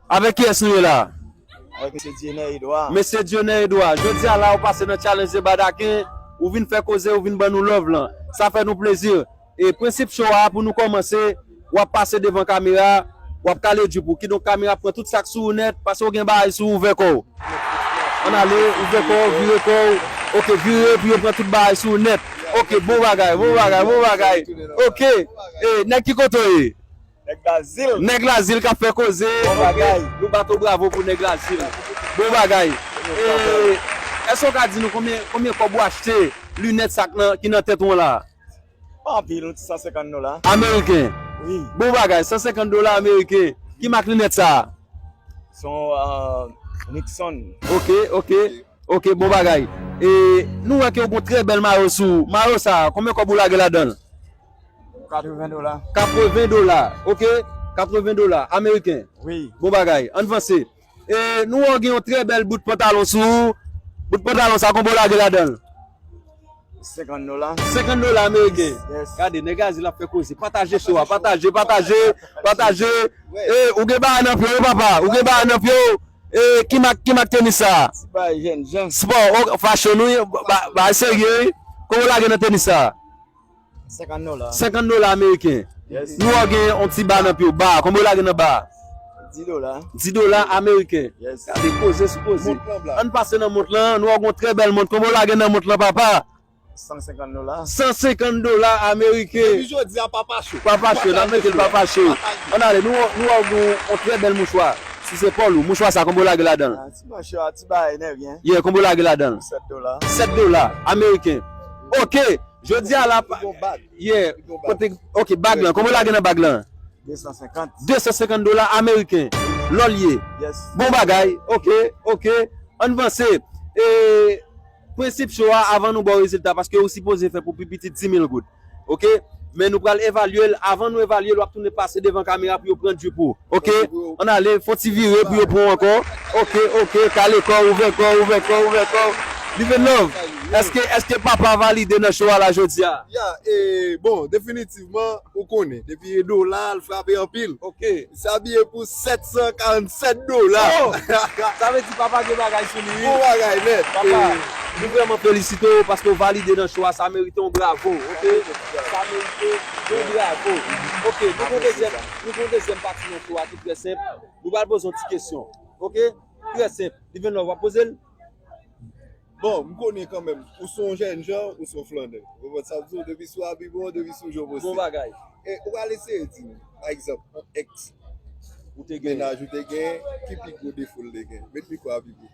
Avèk kiyès nou ye la? Avèk Mesye Dieunè Edouard. Mesye Dieunè Edouard, jodi a la ou pase nan Challenge de Badaken, ou vin fè koze, ou vin ban nou love lan. Sa fè nou plezi. E prensip show a, pou nou kòmanse, w ap pase devan kamera, w ap kale jupe ou. Kidonk kamera ap pran tout sa k sou ou nèt, paske ou gen bagay sou ou, ouvè kò w. Ann ale, ouvè kò w, vire kò w. Ok, vire pou yo pran tout bagay sou ou nèt. Ok, bon bagay, bon bagay, bon bagay. Ok, e nèg ki kote w ye? Nèg lazil kap fè koze ok nou bat ou bravo pou nèg lazil bon bagay èske ou ka di nou konbyen kòb ou achte linèt sa ki nan tèt ou an la pa anpil yon ti 150 dola ameriken bon bagay 150 dola ameriken ki mak linèt sa son nixon ok ok ok bon bagay nou wè ke ou gon trè bèl mayo sou ou mayo sa konbyen kòb ou lage ladanl. 80 dola. 80 dola, ok. 80 dola ameriken. Wi. Bon bagay. Ann vanse. E nou wè w gen yon trè bèl bout pantalon sou ou. Bout pantalon sa konbe w lage ladan l? 50 dola. 50 dola ameriken. Yes. Gade, nèg Azil ap fè koze. Pataje show a. Pataje, pataje, pataje. E, ou gen bagay nan pye w papa. Ou gen bagay nan pye w. E, ki mak, ki mak tenis sa a? Ti bagay jèn jan. Spò, ok. Fashion wi. Bagay serye wi. Konbe w lage nan tenis sa a? 50 dola. 50 dola ameriken. Nou wè gen yon ti ba nan pye w. Ba, konbe yo lage nan ba a? 10 dola. 10 dola ameriken. Gade koze sou koze. An n pase nan mont lan. Nou wè gen yon trè bèl mont. Konbe yo lage nan mont lan papa? 150 dola. 150 dola ameriken. Depi jodi a papa cho. Papa cho. Nan mete l papa cho. An n ale. Nou wè gen yon trè bèl mouchwa sou zepòl ou. Mouchwa sa konbe yo lage ladan l? Ti mouchwa, ti bagay nèg. Ye, konbe yo lage ladan l? 7 dola. 7 dola ameriken. Ok! Jodi a la pa Gen yon bag Yeah Gen yon bag Kote Ok bag lan Konbyen la gen nan bag lan 250 250 dola ameriken Lò l ye Yes Bon bagay Ok Ok Ann vanse E Prensip cho a avan nou ba w rezilta paske ou sipoze fè pou pi piti 10000 goud Ok Men nou pral evalye l Avan nou evalye l w ap tounen pase devan kamera pou yo pran djip ou Ok an ale fon ti vire pou yo pranw ankò ok ok kale kòw ouvè kòw ouvè kòw ouvè kòw Live love eske eske papa valide nan show a la jodia? Ya e bon definitivman ou konnen depi e dola al frape anpil ok misye abiye pou 747 dola ohh sa vle di papa gen bagay sou li wi bon bagay nèt papa nou vrèman felisite w paske w valide nan show a sa merite yon bravo ok sa merite yon bravo ok nou konte jèn. Pou jwenn dezyèm pati nan show a ki trè senp, nou pral poze yon ti kesyon ok, trè senp, Live Love wap poze l? Bon, m konnen kanmenm, ou son jènjan, ou son flannè. Ou konprann sa m di w, depi sou abiman w, depi sou jan w Bon bagay. E ou pral eseye di m, pa egzanp, yon ex ou te gen, mennaj ou te gen, ki pi gwo defo l te gen? Met mikwo a pi pre.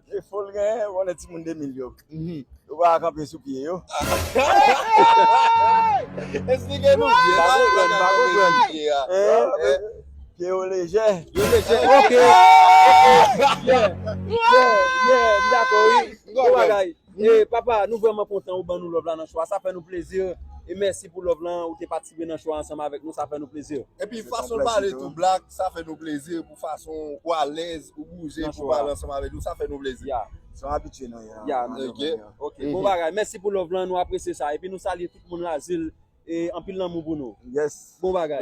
Defo l genyen ou konnen timoun 2000 yo yo pa ka kanpe sou pye yo. Esplike nou byen sa yo pa ka kanpe sou pye a. Pye yo lejè. Yo lejè ok. Yè yè yè m dakò wi. Bon bagay. Papa nou vrèman kontan ou ban nou love la nan show a sa fè nou plezi e mèsi pou love lan ou te patisipe nan show a ansanm avèk nou sa fè nou plezi. Epi fason l pale tou black. Sa fè nou plezi pou fason ou alèz, ou bouje pou pale ansanm avèk nou. Sa fè nou plezi. Se yon abitye nou ye. Ya, nou renmen yo. Ok. Bon bagay. Mèsi pou love lan. Nou apresye sa. Epi nou salye tout moun Lazil. E anpil lanmou pou nou. Yes. Bon bagay.